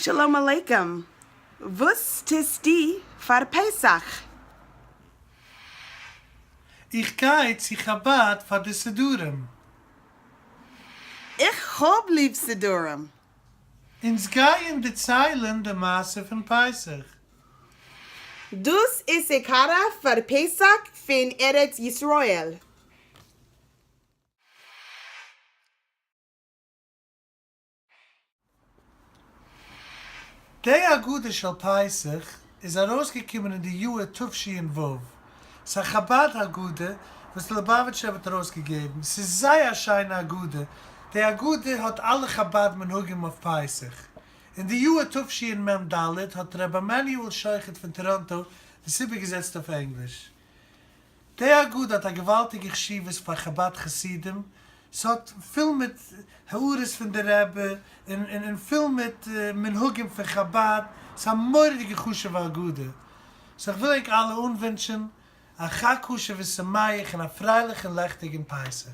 שלום עליכם! וואס טוסטו פאר פסח? איך גיי צו חבד פאר די סידורים. איך האב ליב סידורים! אונז גייען דערציילען די מעשה פון פסח. דאס איז סעקארא פאר פסח פון ארץ ישראל. די הגדה של פסח. איז ארויסגעקומען אין די יאהר תשנ ו, ס'א חבד הגדה וואס די ליבאוויטשער רב האט ארויסגעגעבן, ס'איז זייער א שיינע הגדה, די הגדה האט אלע חבד מנהגים אויף פסח. אין די יאהר תשמ ד האט ר' עמנואל שוחט פון טאראנטא דאס איבערגעזעצט אויף ענגליש. די אגודה האט א געוואלטיגע חשיבות פאר חבד חסידים, ס'האט פול מיט הערות פון די רבי און און פול מיט מנהגים פון חבד, ס'איז א מורא'דיגע חשוב'ע אגודה, סאו כ'וויל ענק אלע אנווינטשען א חג כשר ושמח און א פרייליכן לעכטיגן פסח.